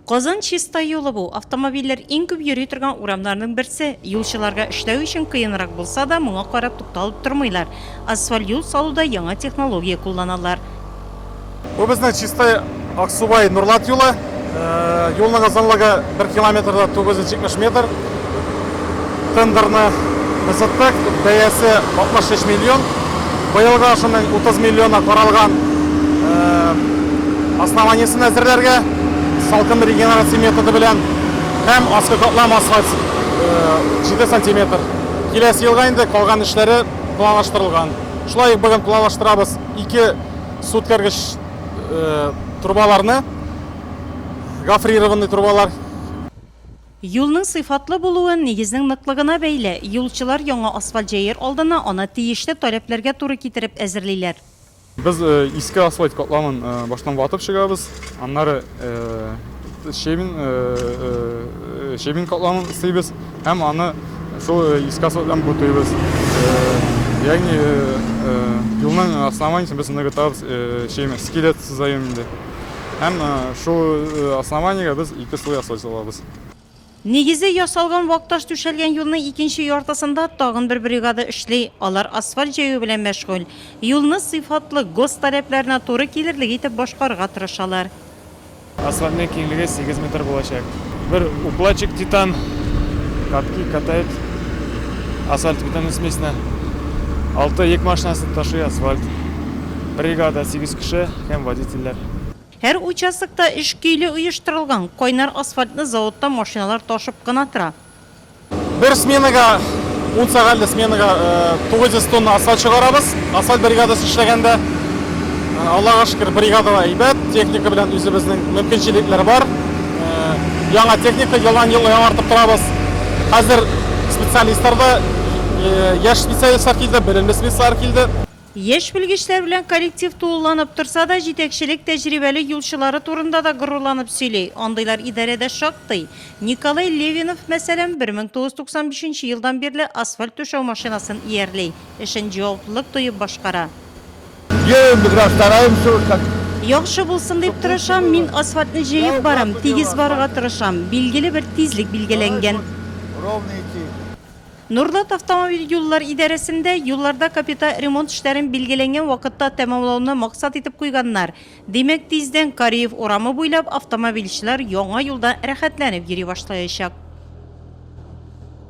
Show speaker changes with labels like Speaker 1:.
Speaker 1: Казан Чистай юлы бу, автомобильләр иң күп йөри торган урамнарның берсе. Юлчыларга эшләү өчен кыенрак булса да, моңа карап тукталып тормыйлар. Асфальт юл салуда яңа технология кулланалар. Бу
Speaker 2: безнең Чистай, Аксубай, Нурлат юлы. Юлның озынлыгы бер километрда 970 метр. Тендерны кызыттык, бәясе 63 миллион. Быелга шуның 30 миллионы каралган основаниесен әзерләргә, салкын регенерация методы белән һәм аскы катлам асфальт 7 сантиметр. Киләсе елга инде калган эшләре планлаштырылган. Шулай ук бүген планлаштырабыз ике су үткәргеч трубаларны, гофрированный трубалар.
Speaker 1: Юлның сыйфатлы булуы нигезнең ныклыгына бәйле, юлчылар яңа асфальт җәяр алдына аны тиешле таләпләргә туры китереп әзерлиләр. Без
Speaker 2: иске асфальт катламын баштан ватып чыгабыз, аннары щебень, щебень катламын өстибез һәм аны шул иске асфальт белән бутыйбыз. Ягъни юлның основаниесен без ныгытабыз, щебень, скелет сызаем инде. Һәм шул основаниегә без ике слой асфальт салабыз. Нигезе
Speaker 1: ясалган вак таш түшәлгән юлның икенче яртысында тагын бер бригада эшли, алар асфальт җәю белән мәшгуль. Юлны сыйфатлы, гос таләпләренә туры килерлек итеп башкарырга тырышалар. Асфальтның
Speaker 3: киңлеге сигез метр булачак. Бер укладчик титан катки катает асфальтобетонный смесьны. Алты йөк машинасы ташый асфальт. Бригада сигез кеше. Һәм водительләр. Һәр
Speaker 1: участокта эш көйле оештырылган, кайнар асфальтны заводтан машиналар ташып кына тора. Бер
Speaker 2: сменага, ун сәгатьле сменага 900 тонна асфальт чыгарабыз. Асфальт бригадасы эшләгәндә, Аллага шөкер, бригада да әйбәт, техника белән үзебезнең мөмкинчелекләр бар. Яңа техника елдан-ел яңартып торабыз. Хәзер специалистлар да, яшь специалистлар килде, белемле специалистлар килде. Яшь белгечләр
Speaker 1: белән коллектив тулыланып торса да, җитәкчелек тәҗрибәле юлчылары турында да горурланып сөйли. Андыйлар идарәдә шактый. Николай Левинов, мәсәлән, 1995 елдан бирле асфальт түшәү машинасын иярли, эшен җаваплылык тоеп башкара. Яхшы булсын дип тырышам, мин асфальтны җәеп барам, тигез барырга тырышам, билгеле бер тизлек билгеләнгән. Норлат автомобиль юллар идарәсендә юлларда капиталь ремонт эшләрен билгеләнгән вакытта тәмамлауны максат итеп куйганнар. Димәк, тиздән Кариев урамы буйлап автомобильчеләр яңа юлда рәхәтләнеп йөри башлаячак.